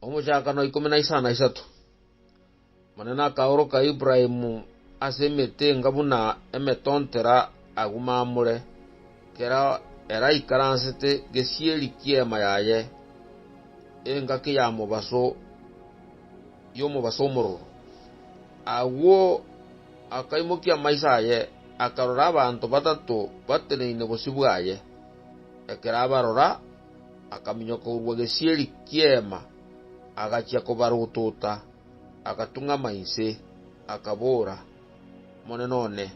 Omochakano ikomi na isano na isato, Omonene akaoroka Ibrahimu ase emetenga buna emetontera agwo mamure, ekero ere aikaransete gesieri ki'eema yaye, engaki ya mobaso y'omobaso omororo. Agwo akaimokia amaiso aye, akarora abanto batato bateneine bosio bwaye. Ekero abarora, akaminyoka korwa gesieri ki'Eema, agachia kobarotota, agatung'ama inse, akabora, Omonene one,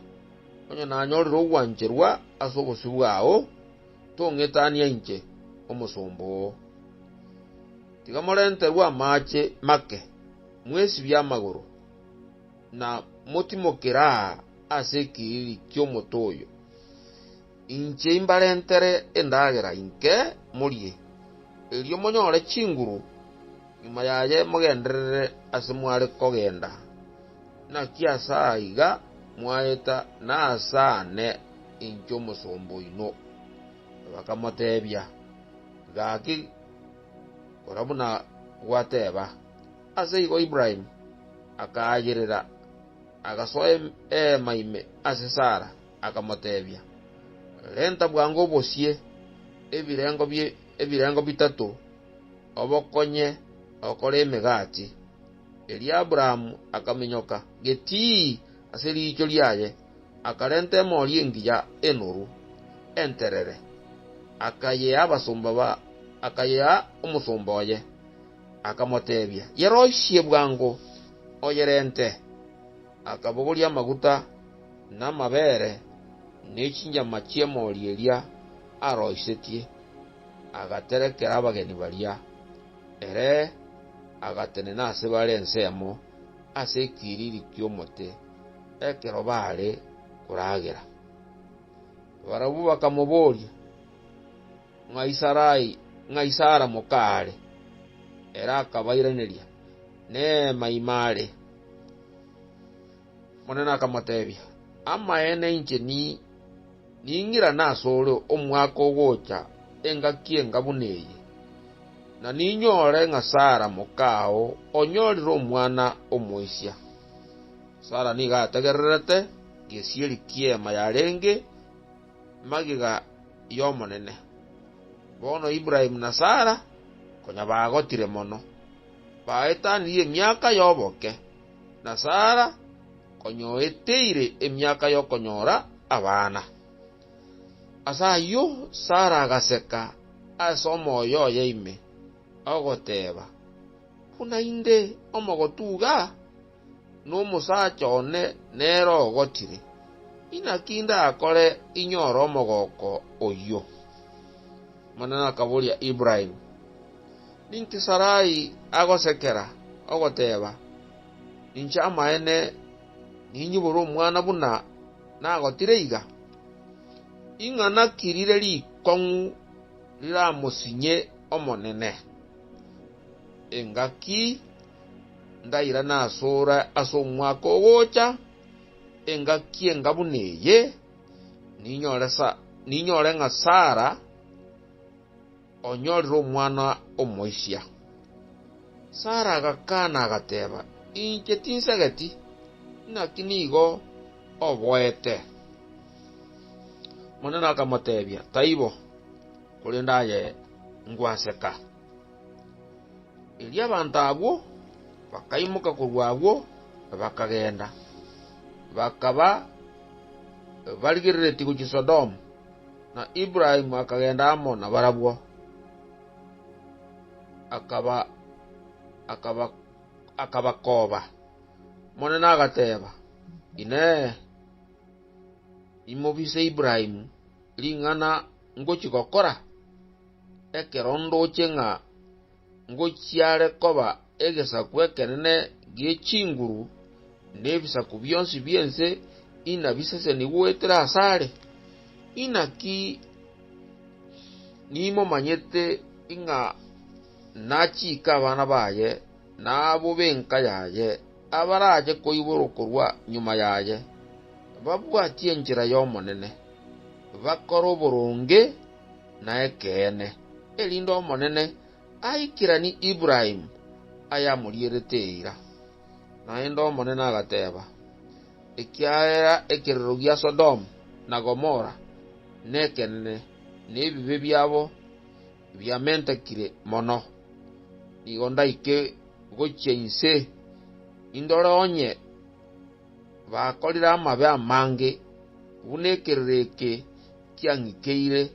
onye nanyorire ogwancherwa ase obosio bwao, tong'etania inche, omosomba oo. Tiga morenterwe amaache make, mwesibie amagoro, na motimokere aa ase ekiriri ki'omote oyo. Inche imbarentere endagera inke morie, erio monyore chinguru, nyuma yaye mogenderere ase mware kogenda. Naki ase aiga mwaeta nasane inche omosomba oino. Bakamotebia, Gaki, kora buna gwateba. Aseigo Ibrahimu akaayerera, agasoa eema ime ase Sara. Akamotebia, Renta bwango obosie ebirengo ebirengo bitato, obokonye okore emegati. Erio Abrahamu akaminyoka getii ase riicho riaye, akarenta emori engiya enoru, enterere, akayea abasomba akayea omosomba oye. Akamotebia, Yeroisie bwango, oyerente. Akabogoria amaguta, na amabeere, ne chinyama chi'emoori eria aroisetie, agaterekera abageni baria. Ere agatenena ase bare ensemo ase ekiriri ki'omote, ekero baare koragera. Barabwo bakamoboria, “Ng'ai Sarai, ng'ai Sara moka aare?” Ere akabairaneria, “Neema ime aare.” Omonene akamoteebia, “Amaene inche ning'irane asore omwaka ogocha engaki enga buna eye, na ninyore ng'a Sara moka ao onyorire omwana omoisia.” Sara nigo ategererete gesieri ki'eema yarenge. magega y'Omonene. Bono Ibrahimu na Sara, konya bagotire mono, baetanirie emiaka y'oboke, na Sara konya oeteire emiaka y'okonyora abana. Ase ayio Sara agaseka ase omoyo oye ime, ogoteeba, Buna inde omogotu iga? nomosacha one nere ogotire, inaki ndakore inyore omogoko oyio? Omonene akaboria Ibrahimu, Ninki Sarai agosekera, ogoteeba, Ninche amaene ninyibore omwana buna nagotire iga? Ing'ana ki rire rikong'u riramosinye Omonene? Engaki Ngairana asore ase omwaka ogocha, engaki enga buna eye, ninyore sa, ninyore ng'a Sara onyorire omwana omoisia. Sara agakana agateba, Inche tinsegeti, naki nigo oboete. Omonene akamotebia, Taibo, korende aye ngwaseka. Erio abanto abwo bakaimoka korwa agwo na bakagenda, bakaba barigereretie gochia Sodomu, na Ibrahimu akagenda amo nabarabwo, akabakoba. Omonene agateeba, Inee! Imobise Ibrahimu ring'ana ngochia gokora? Ekero ndoche ng'a ngochiare koba egesaku ekenene gie chinguru, nebisaku bionsi bi'ense inabiseseni goetera asare? Inaki nimomanyete ng'a nachiika abana baye na abwo b'enka yaye abarache koiborwa korwa nyuma yaye, babwatie enchera y'Omonene, bakore oboronge, Naekeene, erinde Omonene aikiranie Ibrahimu ayamorierete eira. Naende Omonene agateeba, Ekiagera ekerero gia Sodomu na Gomora nekenene, na ebibe biabo biamentekire mono, nigo ndaike gochia inse, indore onye bakorire amabe amange buna ekerero eke kiang'iteire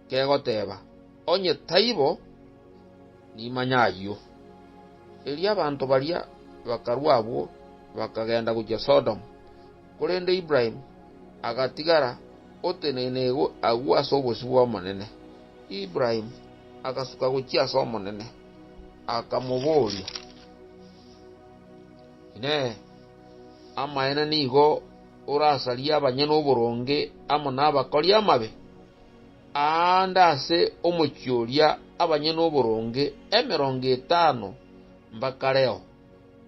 kegoteeba, Onye taibo, nimanye ayio. Erio abanto baria bakarua abwo, bakagenda gochia Sodomu, korende Ibrahimu agatigara oteneine agwo ase obosio bw'Omonene. Ibrahimu agasuka gochia ase Omonene, akamobooria, Inee! Amaene nigo? orasarie abanyene oboronge amo nabakori amabe, aande ase omochie oria abanyene oboronge emerongo etano mbakareo,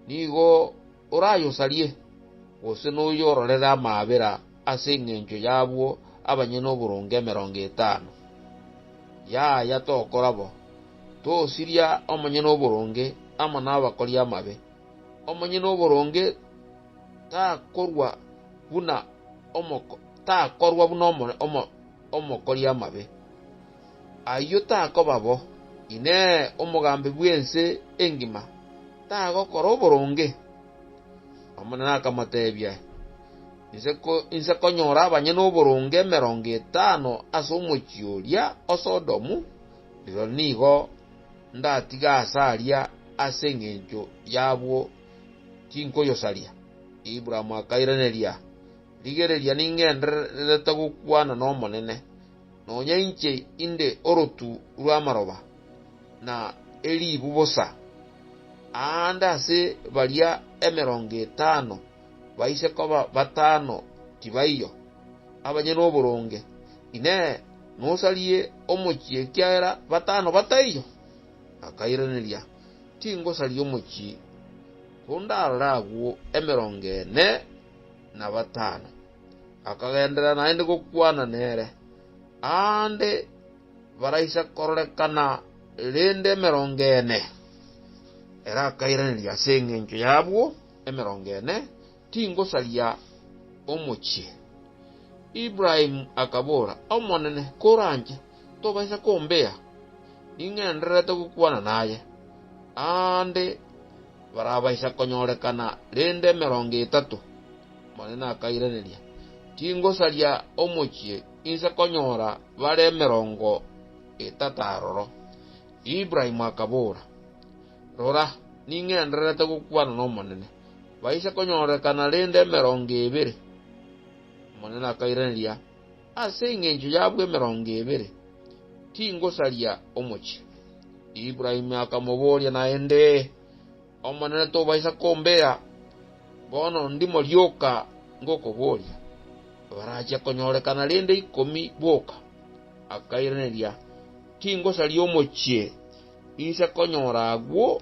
nigo orayosarie, gose noyororere amaabera ase engencho y'abwo abanyene oboronge emerongo etano. Yaya tokora bo, tosiria omonyene oboronge amo nabakori amabe, omonyene oboronge takorwa buna omoko, takorwa buna omore, omo, omokori amabe. Ayio takoba bo. Inee, omogambi bw'ense engima tagokora oboronge? Omonene akamoteebia, Inse ko, inse konyora abanyene oboronge emerongo etano ase omochie oria o Sodomu, rirorio nigo ndatiga ase aria ase engencho y'abwo tinkoyosaria. Abraham akairaneria, Rigereria ningendererete gokwana n'Omonene, nonya inche inde orotu rw'amaroba, na eribu bosa. Aande ase baria emerongo etano baise koba batano tibaiyo, abanyene oboronge, Inee! Nosarie omochie ekiagera batano bataiyo? Akairaneria, tingosaria omochie, kondarore agwo emerongo ene na batano. Akagenderera naende gokwana nere, aande baraisa kororekana rende emerongo ene. Ere akairaneria ase engencho y'abwo emerongo ene. Tingosaria omochie. Ibrahimu akabora, Omonene, koranche, tobaisa kombea, ning'endererete gokwana naye. Aande barabaisa konyorekana rende emerongo etato. Omonene akairaneria, Tingosaria omochie, inse konyora bare emerongo etato aroro. Ibrahimu akabora, Rora, ning'endererete gokwana n'Omonene. baise konyorekana rende emerongo ebere. Omonene akairaneria, Ase engencho y'abwo emerongo ebere, tingosaria omochie. Ibrahimu akamoboria naende, Omonene tobaisa kombera? Bono ndimo rioka ngokoboria, barachia konyorekana rende ikomi boka. Akairaneria, Tingosaria omochie, inse konyora agwo.